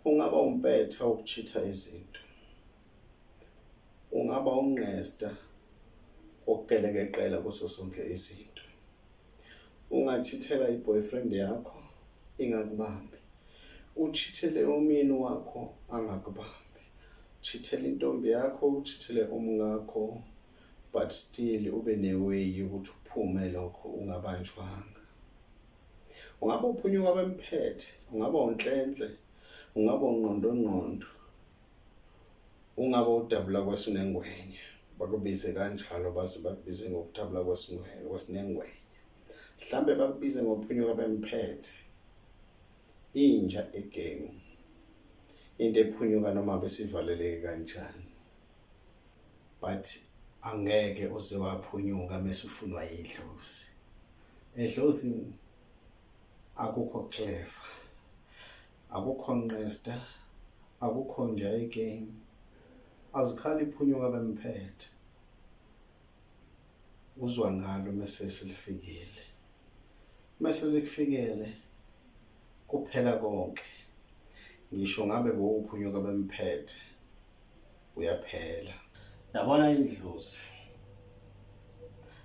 Ungaba umpetha wokuchitha izinto. Ungaba ungqesta wokugelekeqela kuso sonke izinto. Ungachithela i-boyfriend yakho ingakubambi. Uchithele umyeni wakho angakubambi. Chithele intombi yakho, uchithele umngakho but still ube ne-way yokuthi uphume lokho ungabanjwanga. Ungaba uphunyuka bemphethe, ungaba unhlenhle, ungaba ungqondongqondo, ungaba udabula kwesinengwenya, bakubize kanjalo baze bakubize ngokudabula kwesinengwenya, kwesinengwenya. Mhlambe bakubize ngophunyuka bemphethe. Inja egemu. Into ephunyuka noma besivaleleke kanjani. but angeke uze waphunyuka mesufunwa yidlozi edlozi akukho clever akukho nqesta akukho nje igame azikhali iphunyuka bemphethe uzwa ngalo mese silifikile mese likufikele kuphela konke ngisho ngabe bowuphunyuka bemphethe uyaphela yabona idlozi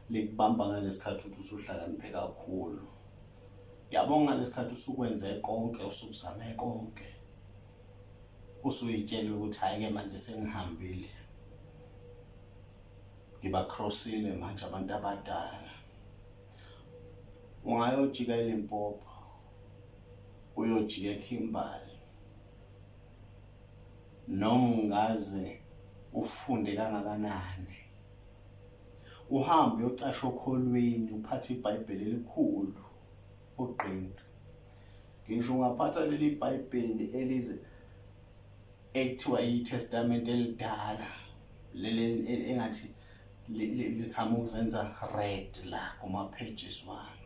likubamba ngalesikhathi uthi usuhlakaniphe kakhulu yabo ngalesikhathi usukwenze konke usukuzame konke usuyitshela ukuthi hayi ke manje sengihambile ngiba crossile manje abantu abadala ungayojika eLimpopo uyojika eKhimbali noma ungaze ufunde kangakanani uhambe uyocasha okholweni uphathe ibhayibheli elikhulu ugqinsi ngisho ungaphatha leli bhayibheli elize ekuthiwa itestamente elidala leli engathi lizama ukuzenza red la kuma-pages wami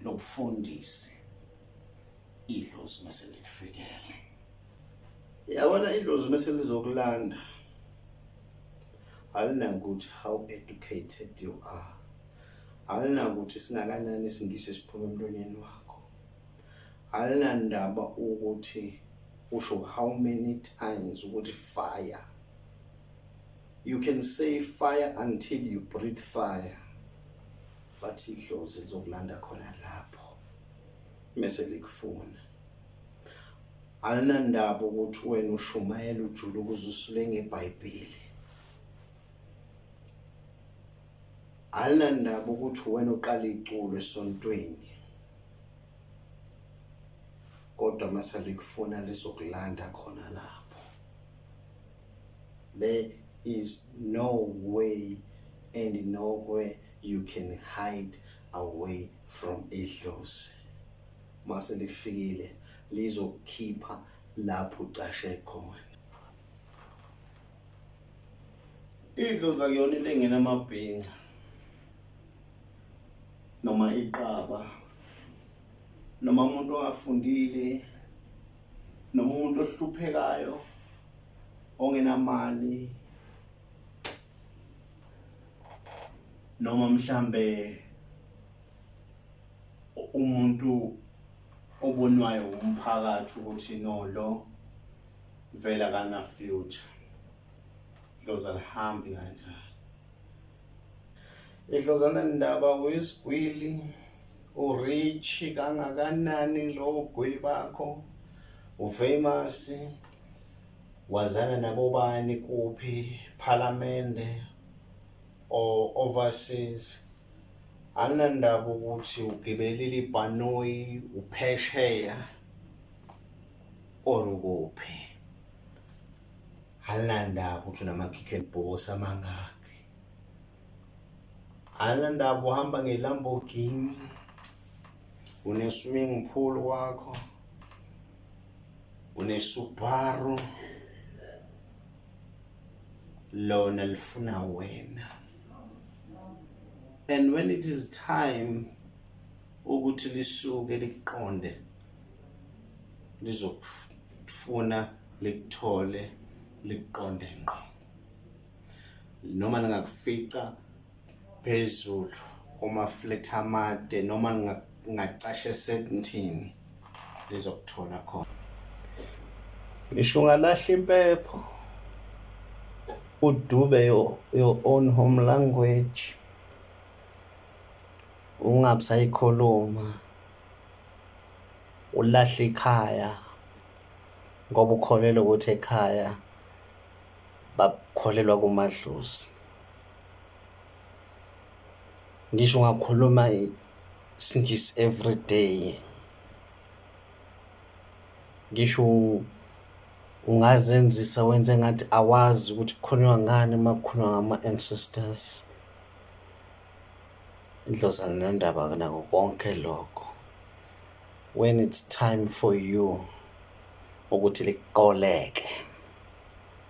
lobufundisi idlozi mase likufikele yabona idlozi mase lizokulanda alinakuthi how educated you are alinakuthi singakanani isingisi esiphuma emlonyeni wakho alinandaba ukuthi usho how many times ukuthi fire you can say fire until you breathe fire Bathi idlozi lizokulanda khona lapho mese likufuna. Alinandaba ukuthi wena ushumayela ujule ukuze usule ngeBhayibheli. Alinandaba ukuthi wena uqala iculo esontweni. Kodwa mase likufuna lizokulanda khona lapho. There is no way and nowhere You can hide away from idlozi. Mase lifikile lizokukhipha lapho ucashe khona. Idlozi akuyona into engena amabhinca noma iqaba noma umuntu ongafundile noma umuntu ohluphekayo ongenamali noma mhlambe umuntu obonwayo umphakathi ukuthi no lo vela kana future dloza lihambi kanjani idlozana ndaba uyisigwili urich kangakanani lo gwili bakho ufamous Wazana nabobani kuphi phalamende or overseas anginandaba ukuthi ugibelile ibhanoyi uphesheya or ukuphi anginandaba ukuthi unama-kick and boss amangaki anginandaba uhamba ngelamborghini uneswimming pool wakho unesubaru lona lifuna wena and when it is time ukuthi lisuke liqonde lizokufuna likuthole liqonde ngqo noma ningakufica phezulu kumaflethi amade noma ngingacasha esentini lizokuthola khona ngisho ungalahla impepho udube your, your own home language ungabusayikhuluma ulahle ikhaya ngoba ukholelwa ukuthi ekhaya bakholelwa kumadlozi ngisho ngakhuluma isingisi everyday ngisho ungazenzisa wenze ngathi awazi ukuthi kukhulunywa ngani uma kukhulunywa ngama-ancestors indlozana nendaba nako konke lokho when it's time for you ukuthi liqoleke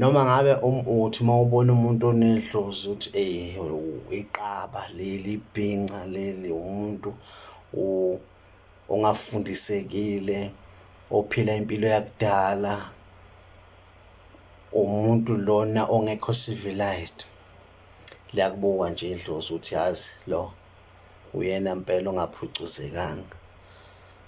Noma ngabe uthi uma ubona umuntu onedlozi uthi eyi iqaba leli, ibhinca leli, umuntu ongafundisekile, ophila impilo yakudala, umuntu lona ongekho civilised. Liyakubuka nje idlozi ukuthi yazi lo uyena mpela ongaphucuzekanga.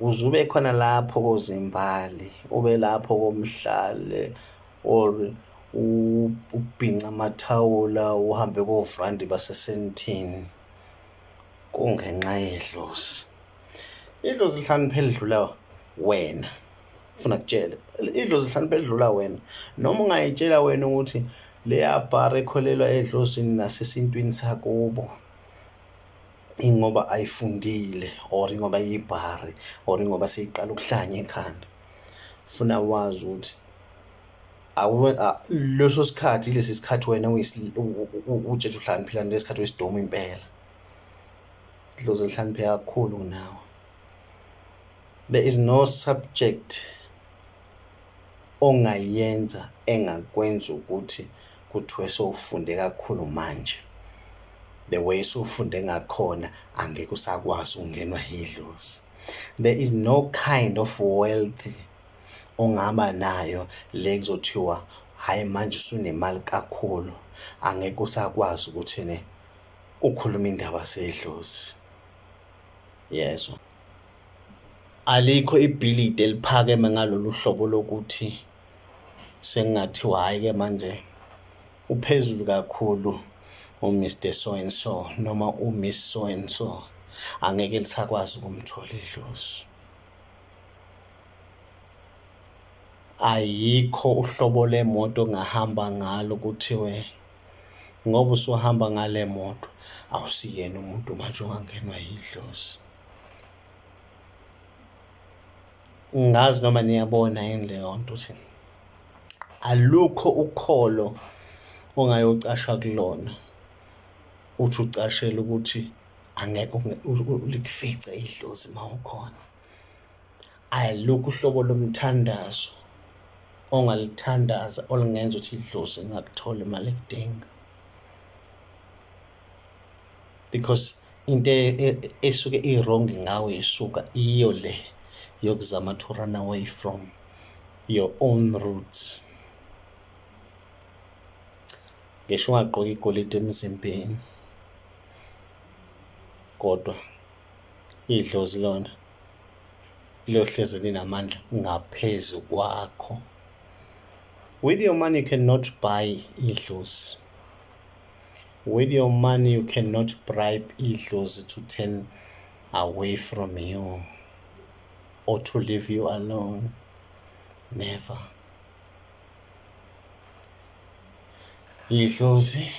Uzube khona lapho kozimbali, ube lapho komhlale or ubhinca amathawula uhambe kovrandi basesentini kungenxa yedlozi. Idlozi lihlakaniphe elidlula wena funa kutshele idlozi lihlakaniphe elidlula wena noma ungayitshela wena ukuthi leya bhara ekholelwa edlozini nasesintwini sakubo ingoba ayifundile or ingoba iyibhari or ingoba seyiqala ukuhlanya ekhanda funa wazi ukuthi leso sikhathi lesi sikhathi wena ujesu uhlaniphila ngesikhathi wesidomu impela dlozi lihlanipheka kakhulu nawe there is no subject ongayenza engakwenza ukuthi Kuthiwe sowufunde kakhulu manje. The way sowufunde ngakhona angeke usakwazi ukungenwa yidlozi. There is no kind of wealth ongaba nayo le kuzothiwa hayi manje usunemali kakhulu angeke usakwazi ukuthi ne ukhuluma indaba sedlozi. Yezwa. Alikho ibhilidi eliphakeme ngalolu hlobo lokuthi sekungathiwa hhayi-ke manje uphezulu kakhulu uMister So and So noma uMiss So and So, angeke lisakwazi ukumthola idlozi. Ayikho uhlobo lemoto ongahamba ngalo kuthiwe ngoba usuhamba ngale moto awusiyena umuntu manje ongangenwa yidlozi ngazi noma niyabona yini leyo nto ukuthi alukho ukholo ongayocashwa kulona uthi ucashela ukuthi angeke likufice idlozi uma ukhona Alukho uhlobo lomthandazo ongalithandaza olungenza ukuthi idlozi ingakutholi imali ekudinga because into e- e- esuke i-wrong ngawe isuka iyo le yokuzama to run away from your own roots ngisho ungagqoka igolide emzimbeni kodwa Idlozi lona liyohlezi linamandla ngaphezu kwakho. With your money you cannot buy idlozi. With your money you cannot bribe idlozi to turn away from you or to leave you alone. Never. Idlozi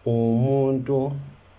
umuntu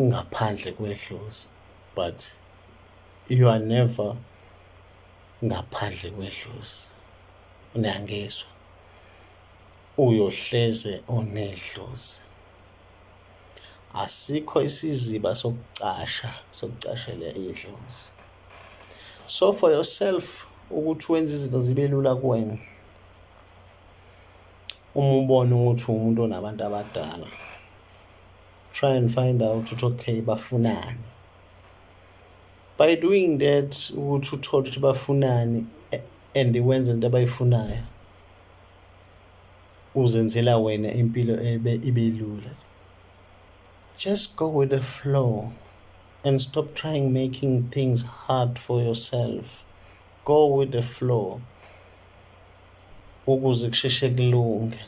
ngaphandle kwedlozi but you are never ngaphandle kwedlozi. Niyangizwa? Uyohleze unedlozi. Asikho isiziba sokucasha sokucashela idlozi. So for yourself ukuthi wenza izinto zibe lula kuwena. uma ubona ukuthi umuntu onabantu abadala try and find out ukuthi okay bafunani by doing that ukuthi uthole ukuthi bafunani and wenze into abayifunayo uzenzela wena impilo ebe ibe lula just go with the flow and stop trying making things hard for yourself go with the flow ukuze kusheshe kulunge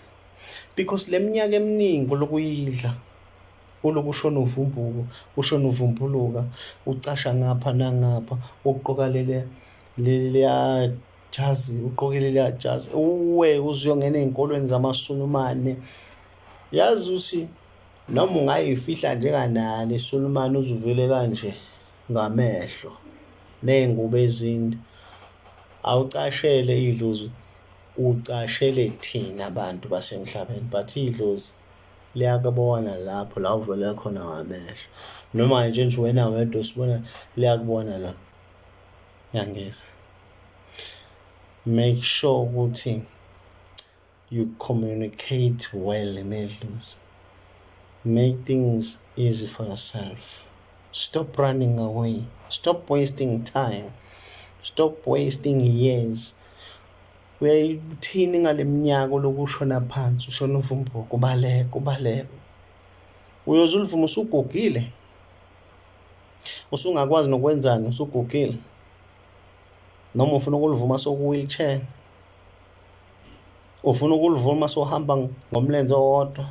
because le minyaka eminingi olokuyidla uloku ushona uvumbuka ushona uvumbuluka ucasha ngapha nangapha uqoka lele leliya jazi uqoke leliya jazi uwe uzuyongena ey'nkolweni zamasulumane yazi ukuthi noma ungayifihla njenganani isulumane uzuvele kanje ngamehlo ney'ngubo ezinde awucashele idlozi ucashele thina bantu basemhlabeni but idlozi liyakubona lapho la uvele khona ngamehlo noma nje nje wena wedwa usibona liyakubona la yangeza make sure ukuthi You communicate well nedlozi. Make things easy for yourself. Stop running away. Stop wasting time. Stop wasting years. Uyayithini ngale minyaka olokhu ushona phansi ushona uvumbuka kubaleka ubaleka. Uyoze ulivume usugugile. Usungakwazi nokwenzani usugugile. Noma ufuna ukulivuma soku wheelchair. Ufuna ukulivula uma sohamba ngomlenze owodwa?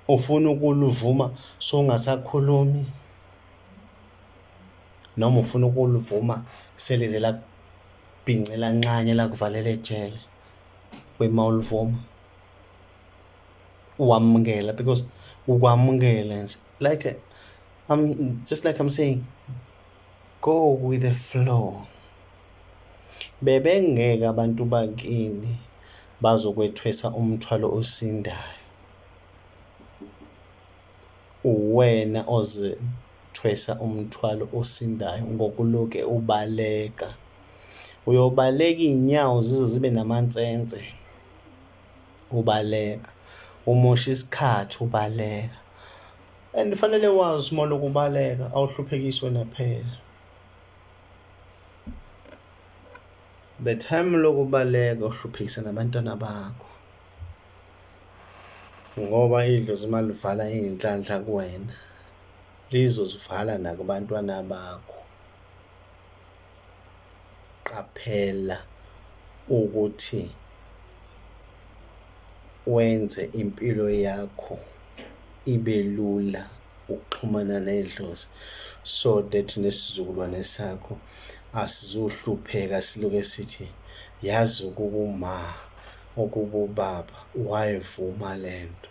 Ufuna ukulivuma songasakhulumi? Noma ufuna ukulivuma selize lakubhince lanxanye lakuvalela ejele? Wema ulivuma. Uwamukela because ukwamukela nje. Like I'm just like I'm saying Go with the flow. Bebengeke abantu bakini bazokwethwesa umthwalo osindayo. Uwena ozethwesa umthwalo osindayo ngokuloke ubaleka. Uyobaleka iy'nyawo zize zibe namansense ubaleka, umoshe isikhathi ubaleka. And fanele wazi uma lokubaleka awuhluphekiswe naphela. The time lokubaleka uhluphekisa nabantwana bakho. Ngoba idlozi uma livala iy'nhlanhla kuwena lizozivala nakubantwana bakho. Qaphela ukuthi wenze impilo yakho ibe lula ukuxhumana nedlozi so that nesizukulwane sakho asizohlupheka siloke sithi yazi ukuba uma ukuba ubaba wayevuma lento.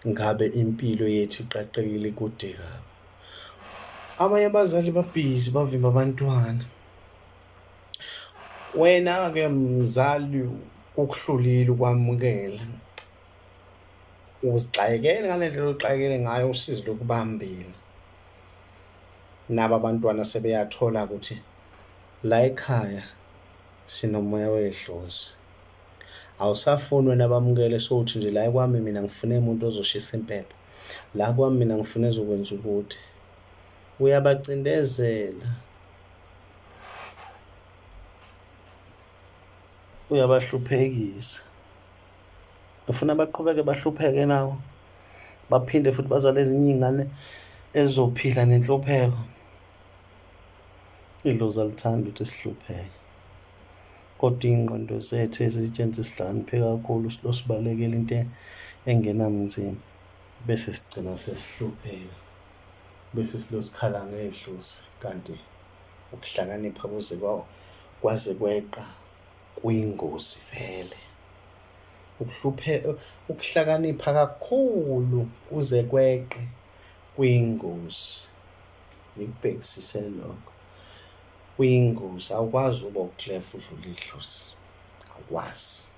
ngabe impilo yethu iqaqekile kude kabi abanye abazali babhizi bavimba abantwana wena-ke mzali ukuhlulile ukwamukela uzixakekele ngale ndlela oxakekele ngayo usizi lokubambile nabo abantwana sebeyathola ukuthi la ekhaya sinomoya wedlozi Awusafuni wena bamukele sowuthi nje la kwami mina ngifune muntu ozoshisa impepho. La kwami mina ngifuna ezokwenza ukuthi. Uyabacindezela. Uyabahluphekisa. Ufuna baqhubeke bahlupheke nawo. Baphinde futhi bazale ezinye izingane ezizophila nenhlupheko. Idlozi alithandi ukuthi sihlupheke. Kodwa iy'ngqondo zethu ezitshenziswa sihlakaniphe kakhulu siloku sibalekela into engenamzimba bese sigcina sesihlupheka, bese siloku sikhala ngedlozi kanti ukuhlakanipha kuze kwaze kweqa kuyingozi vele. Ukuhlakanipha kakhulu kuze kweqe kuyingozi, ngikubhekisise lokho. Uyingozi awukwazi ubo clef udlula idlozi awukwazi.